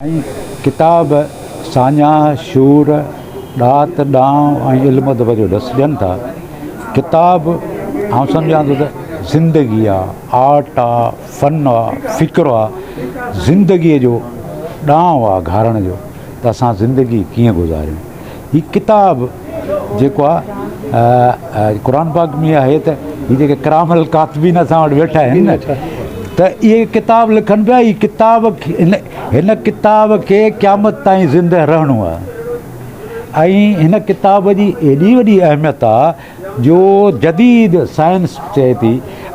۽ ڪتاب ساڃاهه، شعور، ڏات، ڏانء ۽ علم ادب جو ڏس ڏين ٿا. ڪتاب آئون سمجهان ٿو ته زندگي آ، آرٽ آ، فن آ، فڪر آ، زندگيء جو ڏانء آ، گهارڻ جو ته اسان زندگي ڪيئن گذاريون. هي ڪتاب جيڪو آ قرآن پاڪ ۾ آهي ته هي جيڪي ڪرام الڪاتبين اسان وٽ ويٺا آهن نه ته اهي ڪتاب لکن پيا هي ڪتاب هن ڪتاب کي قيامت تائين زنده رهڻو آ ۽ هن ڪتاب جي ايڏي وڏي اهميت آ جو جديد سائنس چئي ٿي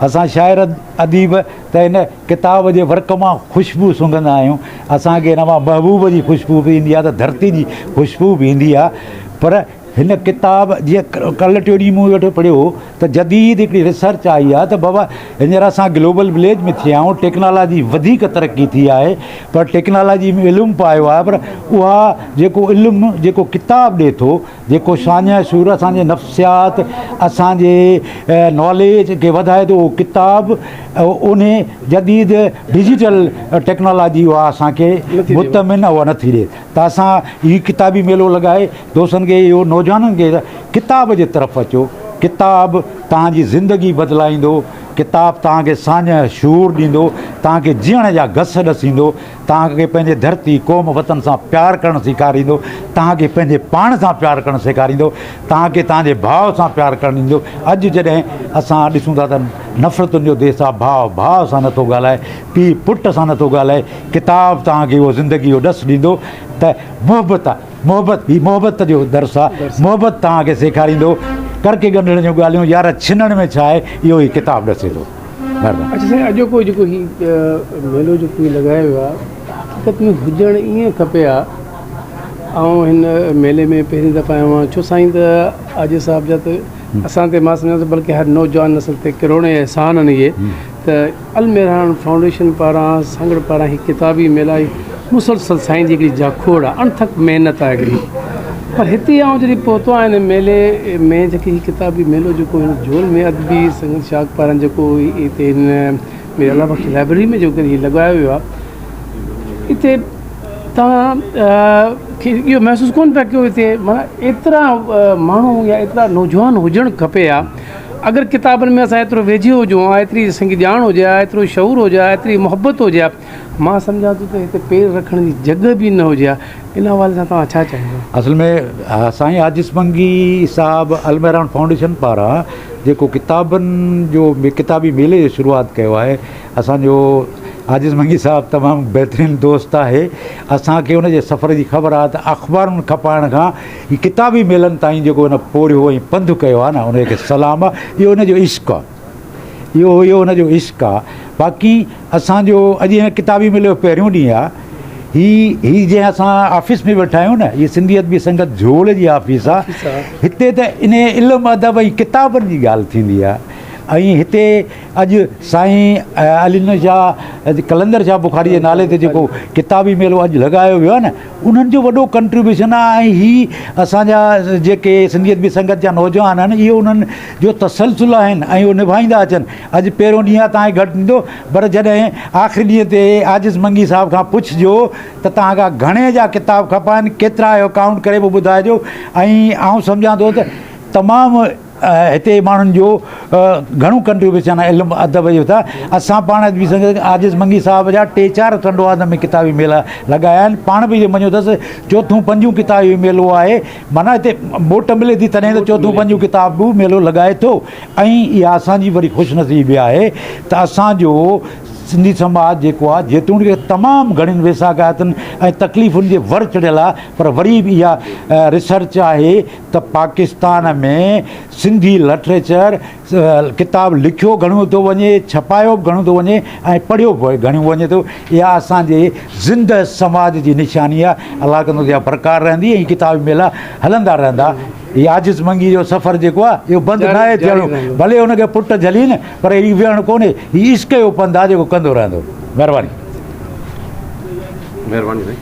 اسان شاعر اديب ته هن ڪتاب جي ورق مان خوشبو سونگهندا آهيون، اسان کي ان مان محبوب جي خوشبو به ايندي آهي ته ڌرتي جي خوشبو به ايندي آهي پر هن ڪتاب جيئن ڪل ٽي ڏينهن مون ويٺو پڙهيو هو ته جديد هڪڙي ريسرچ آئي آهي ته بابا هينئر اسان گلوبل وليج ۾ ٿيا آهيون ٽيڪنالاجي وڌيڪ ترقي ٿي آهي پر ٽيڪنالاجي ۾ علم به آيو آهي پر اها جيڪو علم جيڪو ڪتاب ڏي ٿو جيڪو شانهه شعور اسان جي نفسيات اسان جي ناليج کي وڌائي ٿو اهو ڪتاب انهي جديد ڊجيٽل ٽيڪنالاجي اها اسان کي مطمئن اهو نٿي ڏي ته اسان هي ڪتابي ميلو لڳائي دوستن کي اهو نوجوانن کي ڪتاب جي طرف اچو ڪتاب توهان جي زندگي بدلائيندو ڪتاب توهان کي سانهه شعور ڏيندو توهان کي جيئڻ جا گس ڏسيندو توهان کي پنهنجي ڌرتي، قوم، وطن سان پيار ڪرڻ سيکاريندو، توهان کي پنهنجي پاڻ سان پيار ڪرڻ سيکاريندو، توهان کي توهان جي ڀاء سان پيار ڪرڻ ڏيندو. اڄ جڏهن اسان ڏسون ٿا ته نفرتن جو ديس آهي، ڀاء ڀاء سان نه ٿو ڳالهائي، پيء پٽ سان نه ٿو ڳالهائي، ڪتاب توهان کي اهو زندگي جو ڏس ڏيندو ته محبت آهي، محبت هي محبت جو درس آهي، محبت توهان کي سيکاريندو. ڪر ڪي ڳنڍڻ جون ڳالهيون يار ڇنڻ ۾ ڇا آهي، اهو هي ڪتاب ڏسي ٿو. سائين اڄوڪو جيڪو هي ميلو جيڪو هي لڳايو ويو آهي حقيقت ۾ هجڻ ائين کپي ها آئون هن ميلي ۾ پهرين دفعا آيو آهيان ڇو سائين ته آجي صاحب جا ته اسان تي ما سمجهان ٿو بلڪه هر نوجوان نسل تي ڪروڙين احسان آهن اهي ته الميران فائونڊيشن پاران سانگهڙ پاران هي ڪتاب هي ميلا مسلسل سائين جي هڪڙي جاکوڙ آهي اڻٿڪ محنت آهي هڪڙي پر هتي آئون جڏهن پهتو آهيان هن ميلي ۾ جيڪي هي ڪتابي ميلو جيڪو هن جول ۾ ادبي سنگت شاخ پاران جيڪو هتي هن مير الله بخش لائبرري ۾ جيڪو هي لڳايو ويو آهي هتي تان کي اهو محسوس ڪون پيا ڪيو هتي مانا ايترا ماڻهو يا ايترا نوجوان هجڻ کپي ها اگر ڪتابن ۾ اسان ايترو ويجهي هجون ها ايتري اسان کي ڄاڻ هجي ها ايترو شعور هجي ها ايتري محبت هجي ها مان سمجهان ٿو ته هتي پير رکڻ جي جڳهه به نه هجي ها. ان حوالي سان توهان ڇا چاهيندا؟ اصل ۾ سائين عاجز منگي صاحب المهراڻ فائونڊيشن پاران جيڪو ڪتابن جو ڪتابي ميلي جو شروعات ڪيو آهي اسان جو عاجز منگي صاحب تمام بهترين دوست آهي اسان کي ان جي سفر جي خبر آهي ته اخبارن کپائڻ کان ڪتابي ميلن تائين جيڪو ان پورهيو ۽ پنڌ ڪيو آهي نه ان کي سلام آهي اهو ان جو عشق آهي. اهو اهو هن جو عشق آ باقي اسان جو اڄ هن ڪتابي ميلي جو پهريون ڏينهن آ هي هي جنهن اسان آفيس ۾ ويٺا آهيون نه هي سنڌي ادبي سنگت جهول جي آفيس آ هتي ته ان علم ادب ۽ ڪتابن جي ڳالهه ٿيندي آ ۽ هتي اڄ سائين علي نور شاهه قلندر شاهه بخاري جي نالي تي جيڪو ڪتابي ميلو اڄ لڳايو ويو آ نه انهن جو وڏو ڪنٽريبيوشن آهي ۽ هي اسان جا جيڪي سنڌي ادبي سنگت جا نوجوان آهن اهي انهن جو تسلسل آهن ۽ اهو نڀائيندا اچن اڄ پهريون ڏينهن آهي تاهي گهٽ ڏيندو پر جڏهن آخري ڏينهن تي عاجز منگي صاحب کان پڇجو ته توهان کان گهڻي جا ڪتاب کپائن ڪيترا اهو ڪائونٽ ڪري پوء ٻڌائجو ۽ آئون سمجهان ٿو ته تمام هتي جي ماڻهن جو گهڻو ڪنٽريبيوشن آهي علم ادب جو ته اسان پاڻ به سنگت عاجز منگي صاحب جا ٽي چار ٽنڊوادن ۾ ڪتابي ميلا لڳايا آهن پاڻ به جي مڃيو اٿس چوٿون پنجون ڪتابي ميلو آهي معنيٰ هتي موٽ ملي ٿي تڏهن ته چوٿون پنجون ڪتابو ميلو لڳائي ٿو ۽ اها اسان جي وڏي خوش نصيبي به آهي ته اسان جو سنڌي سماج جيڪو آهي جيتوڻيڪ تمام گهڻين ويساهڪايتن ۽ تڪليفن جي ور چڙهيل آهي پر وري به اها ريسرچ آهي ته پاڪستان ۾ سنڌي لٽريچر ڪتاب لکيو گهڻو ٿو وڃي، ڇپايو به گهڻو ٿو وڃي ۽ پڙهيو به گهڻو وڃي ٿو. اها اسان جي زنده سماج جي نشاني آهي. الله ڪندو ته اها برقرار رهندي ۽ هي ڪتابي ميلا هلندا رهندا. هي عاجز منگي جو سفر جيڪو آهي اهو بند ناهي ٿيڻو. ڀلي هن کي پٽ جهلين پر هي ويهڻ ڪونهي. هي عشق جو پنڌ آهي جيڪو ڪندو رهندو. مهرباني. مهرباني سائين.